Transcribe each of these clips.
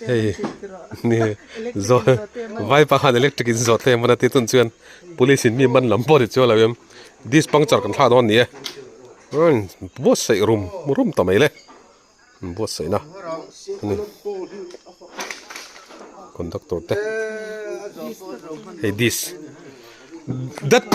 Hei ni zawt vai pakhat electric in zawt thei a man a tihtuan chuan police in mi man lam pawh a ni chu alo em disk puncture kan thlah dawn a ni e umm buatsaih rum rum ta mai le buatsaih na ni conductor te hei disk dat--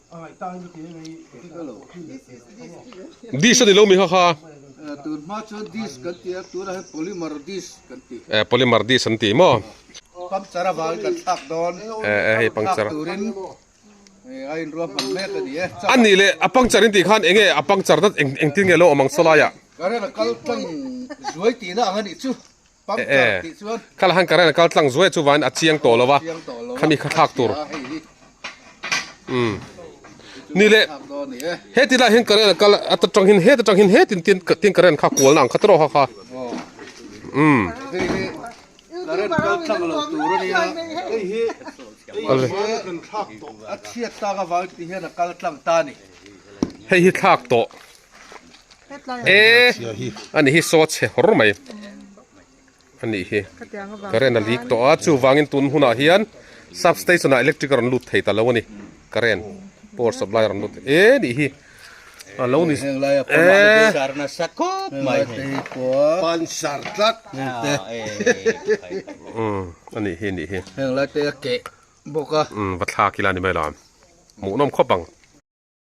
Disk a ni lo mi hakha. Eh polymer disk an tih maw. A nih leh a puncture in tih khan eng nge a puncture na engtin nge lo awm ang saw lai a. E e. Kha lahan current a kal tlang zuai chuvain a chiang tawh lova khami kha thlak tur umm ni le heti laiah hian current a kal a ta tanghin heta tanghin he tin tin tin current kha kualna ang kha ta rawh hakha umm hei hi thlak tawh. e ani hi saw chhe hawr mai ani hi current a lik tawh a chuvangin tun hunah hian substation ah electric a rawn lut thei ta lo ani current power supply a rawn lut e nih hi a lo ni e sar na sa khawp mai pan sar tlat te ani hi nih hi heng lai te ke boka va thlak ila ni mai la mu nom khawp ang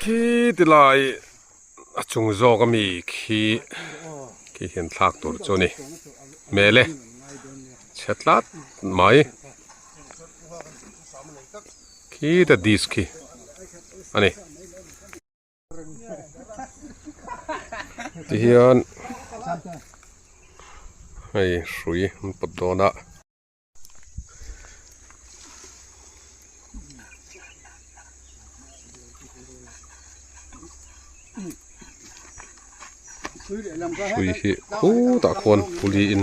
Khi ti lai a chung zawk a mi khi khi hian thlak tur chu a ni hmel e chhe tlat mai khi ta disk khi a ni. tihian hei hrui an pawt dawn a hrui hi khutah khuan puli in.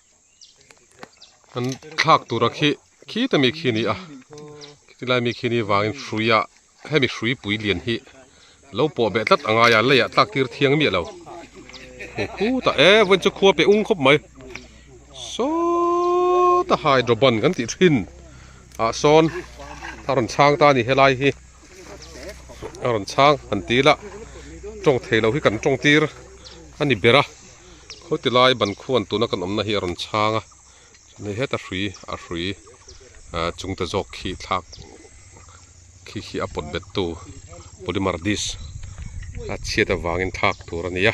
an thlak tura khi khita mi khi a ni a khiti lai mi khi ni vangin hruia hemi hrui pui lian hi lo pawh beh tlat a ngaia leiah tlak tir thiang miah lo hu hu ta e vawiin chu khua pe ung khawp mai sawww ta hydroban kan tih thin ah sawn a rawn chhang ta a ni helai hi a rawn chhang han ti ila tawng theilo hi kan tawngtir a ni ber a. khaw ti lai ban khuan tuna kan awmna hi a rawn chhang a chuan hei heta hrui a hrui ah chung te zawk khi thlak khi khi a pawt bet tu polymer dish a chhiat avangin thlak tur a ni a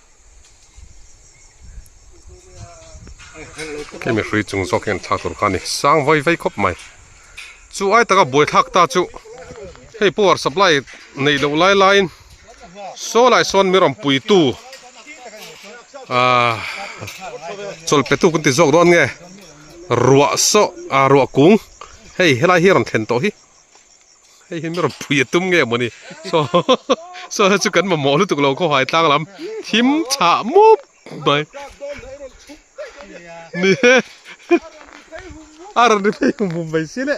Hei mihri chung zawk hian thlak tur kha a ni. Sang vai vai khawp mai. Chu ai taka buai thlak ta chu hei power supply neih loh lai laiin saw lai sawn mi rawmpuitu aah chawl petu kan ti zawk dawn nge. Ruah sawh aah ruah kung hei helai hi a rawn thlen tawh hi. Hei hian mi rawn phui a tum nge mawni saw saw chu kan mamawh lutuk lo khawhai tlang lam thim tha mup mai ni he a rawn ri phei hum hum mai si le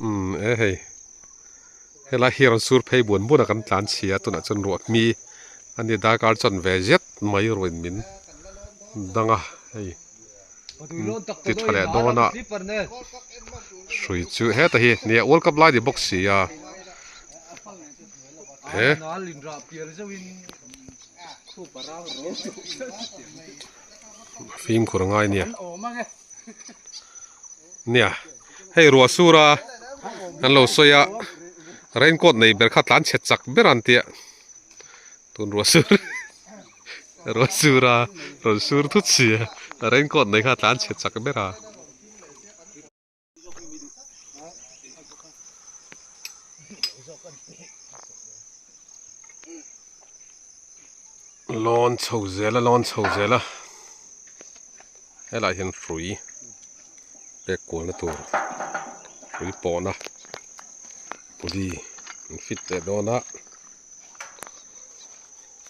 Umm e hei helai hi rawn sur phei buan buan a kan tlan chhia tunah chuan ruahmi a ni darkar chuan ve zet mai ruin min dang a hei ti tha leh dawn a hrui chu heta hi ni ah world cup lai ni bawk si a he. fim kawr ngai nia nia hei ruahsura an lo sawi a rain coat nei ber kha tlan chhet chak ber a ni tih tun ruahsur ruahsura rawn sur thut si a rain coat nei kha tlan chhet chak ber a. lawn chho zela lawn chho zela helai hian hrui pek kual na tur hrui pawh na kudi an fit leh dawn a.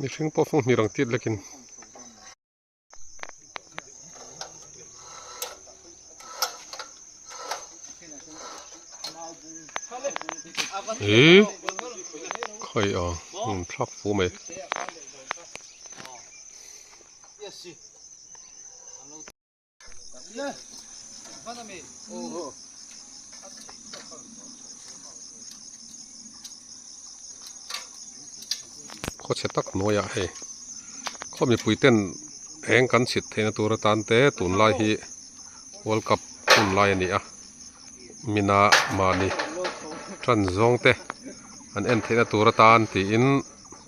mihring pawh fung hnih ang tit lek in ihh khaih a hun thlak fu mai. khaw chhe tak hnuaiah hei khaw mipui ten eng kan chhit theih na tur atan te tun lai hi world cup hun lai a ni a mina mahni tan zawng te an en theih na tur atan tiin--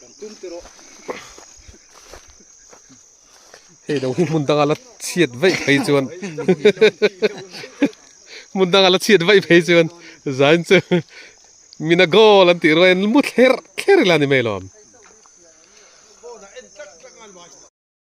Kan tum te rawh. Hei lo hi hmun danga la chhiat vaih phei chuan. Hmun danga la chhiat vaih phei chuan. Zain chu mina goal an tih ruain mu thler thler ila ni mai lo.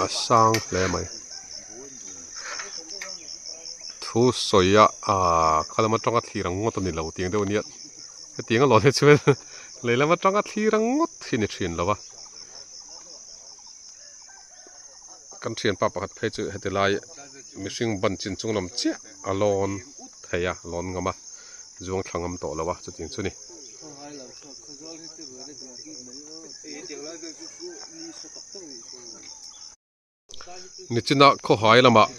a sang hle mai thu sawi a ah khalam atanga thlir ang ngawt a ni lo tiang deuh a ni a hetiang a lawn hi chuan lehlam atanga thlir ang ngawt hi a ni thin lo va. kan thianpa pakhat phei chu heti lai mihring ban chin chung lam chiah a lawn thei a lawn ngam a zuang thla ngam tawh lo a chuti chu ni nichina khawhai lamah.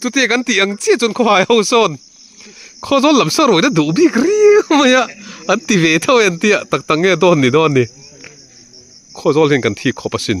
Chutia kan tih ang chiah chuan khawhai ho sawn khaw zawl lam sawn ruihna duh bik riau mai a an ti ve theuh e an tia tak tak nge dawn ni dawn ni khaw zawl hian kan thi khawp a sin.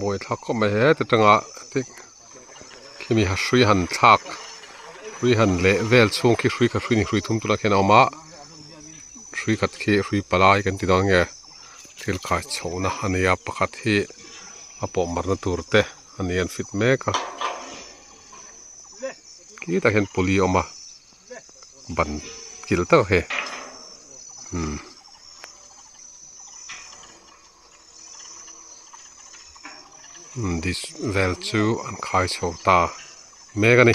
Buai thlak khawp mai he heti atanga khi mi hrui han thlak hrui han leh vel chhung khi hrui khat hrui ni hrui thum tuna khian a awm a hrui khat khi hrui palai kan ti dawn nge thil khai chhoh na a nia pakhat hi a pawh marh na tur te a ni a an fit mek a khi ta khian pulley a awm a. ban kil tawh he umm umm this vel chu an khai chho ta mek a ni.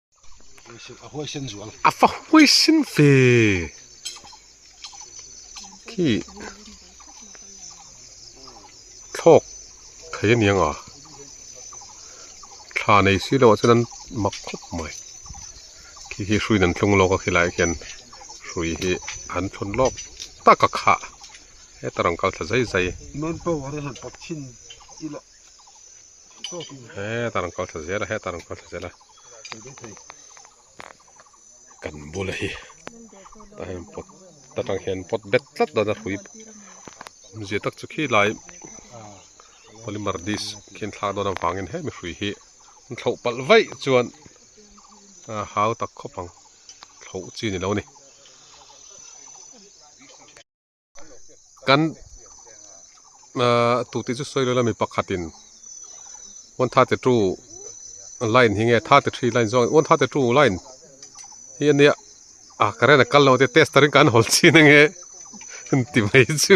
a huai sen zual a fa huai sen fe khi thlawk thei aniang a thla nei si lo a chuan an mak khawp mai khi khi hruiin an thlung lawk a khilai khian hrui hi an thlun lawk taka kha heta rawn kal thla zai zai main power han tak thin ila heta rawn kal thla zel a heta rawn kal thla zel a kan bula hi ahem pot ta tang hian pot bet tlat dana hrui awm zia tak chu khilai polymer disk khian thla dawn avangin he mihri hi an thloh pal vaih chuan ah hau tak khawp ang thloh chi ni lo ni. kan ahh tute chu sawi leh la mi pakhatin one thate two line hi nge thate three line zawk one thate two line hi a nia ah current a kal lo tia tester in kan hawl chhin ange ti mai chu.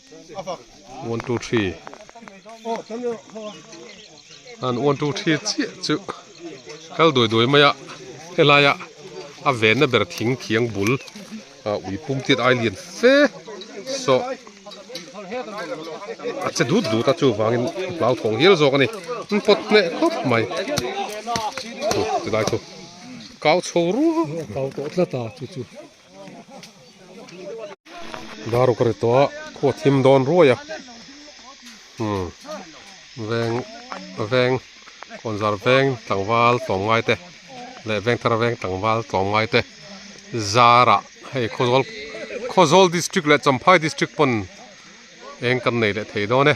one two three an one two three chiah chu kal duai duai mai a helai a a van na ber thing thiang bul ah ui pum tiat ai lian fe sawh a che dut dut a chuvangin a hlau thawng hial zawk a ni an pawt hneh khawp mai thu tilai thu kau chho ruau a kau tawh tlat a chu chu. Daru ka ri tawh a, khaw a thim dawn ruai a, umm veng veng kawnzar veng tlangval tlawmngai te leh vengthar veng tlangval tlawmngai te zara hei khaw zawl khaw zawl district leh champhai district pawn eng kan nei leh thei dawn e.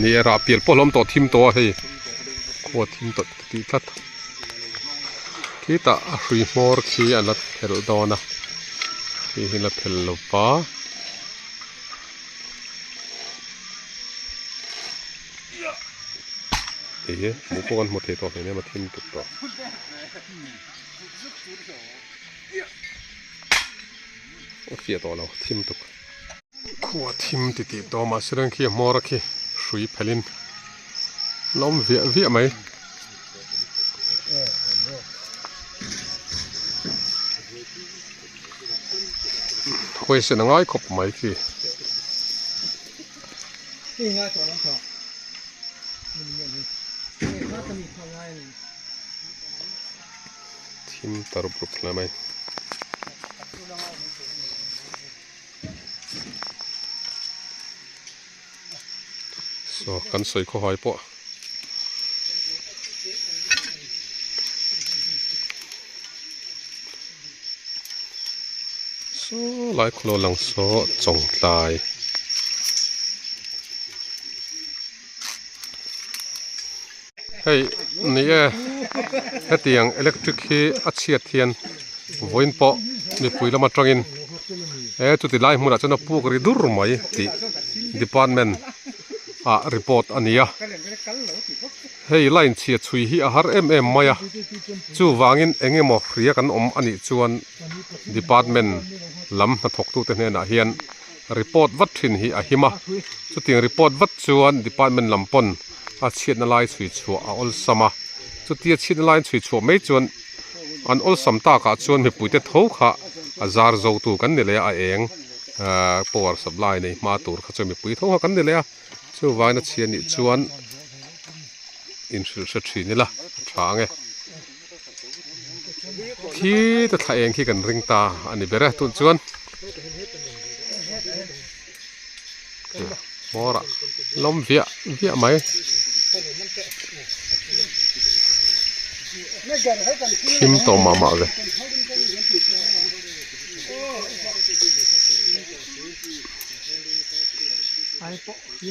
Ni erah pial pawh hlawm tawh thim tawh a hei khuwa thim tawh tih tlat khitah a hrui hmawr khi a la phelh dawn a khi hi la phel lo pa hei hi mu pawh kan hmu thei tawh hmel em a thim tut tawh a fiah tawh lo thim tuk. Khua thim ti tih tawh mahse reng khi a hmawr a khi hrui phelh in la awm viah viah mai. Khawi sen a ngai khawp mai khi. Thim ta rup rup hle mai. so kan sawi khaw hai pawh so lai khaw lo lang saw chawngtlai. Hei ni e, hetiang electric hi a chhiat hian vawiin pawh mipui lam atangin he chuti lai hmunah chuan a puk ri dur mai tih department ah report a ni a, hei line chhiat chhui hi a har em em mai a, chuvangin eng emaw hria kan awm a nih chuan department lam hnathawktute hnenah hian. report vat thin hi a him a, chutin report vat chuan department lam pawn a chhiatna lai chhui chhuah a awlsam a, chuti a chhiatna lai chhui chhuah mai chuan an awlsam takah chuan mipuite tho kha a zar zo tu kan ni leh a, a eng power supply nei hma tur kha chuan mipui tho kha kan ni leh a, chuvangin a chhia nih chuan inhrilhhria thin ila a tha ang e. Khi ta thla eng khi kan ring ta a ni ber e tun chuan hmawra lawm viah viah mai thim tawh mah mah ve ai pawh hi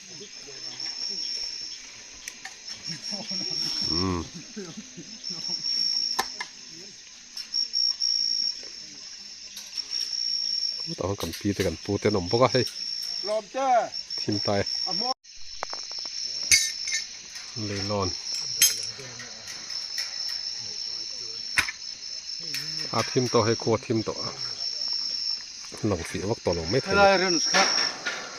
tah kan pi te kan pu te an awm bawk a hei thim ta e leilawn a thim tawh hei khuathim tawh a lang fih vak tawh lo mai thei.